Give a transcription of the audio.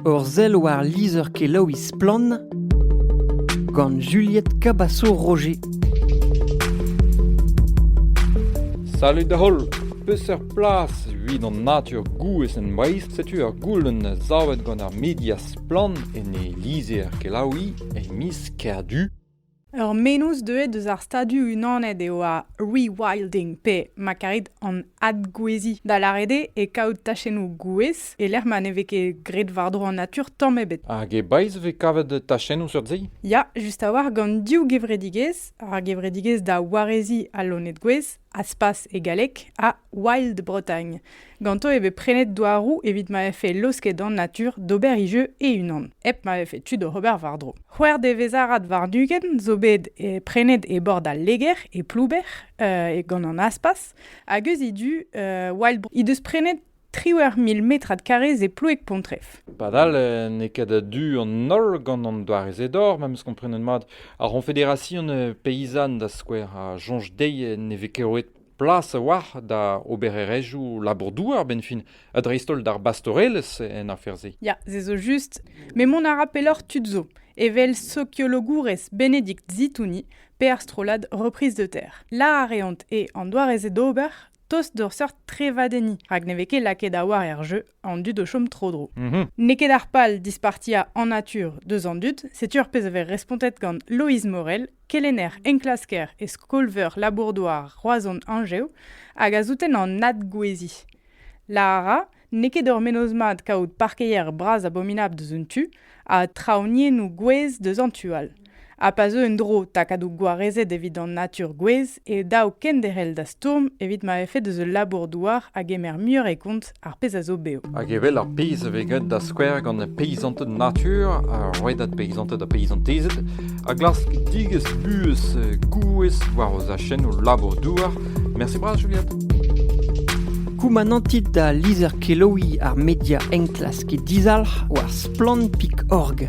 Ur sell war lizher-kelaouiñ Splann! gant Juliette Cabaço-Roger. Salut da holl! Peseurt plas evit an natur gouez en Breizh? Setu ur goulenn savet gant ar media Splann en e lizher-kelaouiñ e miz Kerdu. Ur mennozh deuet eus ar Stadoù-Unanet eo ar rewilding pe, ma karit, an adgouezhiñ, da lâret eo e kaout tachennoù gouez e-lec'h ma ne vez ket graet war-dro an natur tamm ebet. Hag e Breizh e vez kavet tachennoù seurt-se? Ya, just a-walc'h gant div gevredigezh, ar gevredigezh da wareziñ al loened gouez Aspas e galleg, ha Wild Bretagne. Ganto e vez prenet douaroù evit ma vefe laosket an natur d'ober e jeu e-unan, hep ma vefe tu d'ober war-dro. C'hwec'h devezh-arad war-ugent zo bet e prenet e bord al Leger, e Plouber, uh, gant an Aspas, hag eus he du, uh, Wild Bretagne he deus prenet triwec'h mil metrad karrez e Ploueg-Pontrev. Padal eh, n'eo ket a-du an holl gant an doare-se d'or, memes komprenet mat. Ar C'honfederasion eh, Peyzan, da skouer, a soñj dezhi ne vez ket roet plas a-walc'h da obererezhioù labour-douar, ben fin, ha dreist-holl d'ar bastorelezh en afer-se. Ya, se zo just. Mais mont a ra pelloc'h tud zo, evel sokiologourez Bénédicte Zitouni, pe ar strollad Reprise de terre. La a reont e an doare-se d'ober, tost d'ur seurt trevadenniñ, rak ne vez ket lakaet a-walc'h er jeu an dud o chom tro-dro. Mhm. N'eo ket ar pal dispartiañ en natur deus an dud, setu ar pezh a vez respontet gant Loeiz Morel, kelenner enklasker e skol-veur labour-douar Roazhon Anjev, hag a souten an adgouezhiñ. Lara, N'eo ket ur mennozh mat kaout parkeier bras abominabl deus un tu ha traoñiennoù gouez deus an tu all. Ha pa zeu en-dro takadoù gwarezet evit an natur gouez e dav kenderc'hel da stourm evit ma vefe deus ul labour-douar a gemer muioc'h e kont ar pezh a zo bev. Hag evel ar pezh a vez graet da skouer gant peysanted natur, ar rouedad peysanted ha peyzantezed, a glask digesk buhez gouez war o zachennoù labour-douar. Mersi bras, Juliette. Koumanantit da lizher-kelaouiñ ar media enklask dizalc'h war splann.org.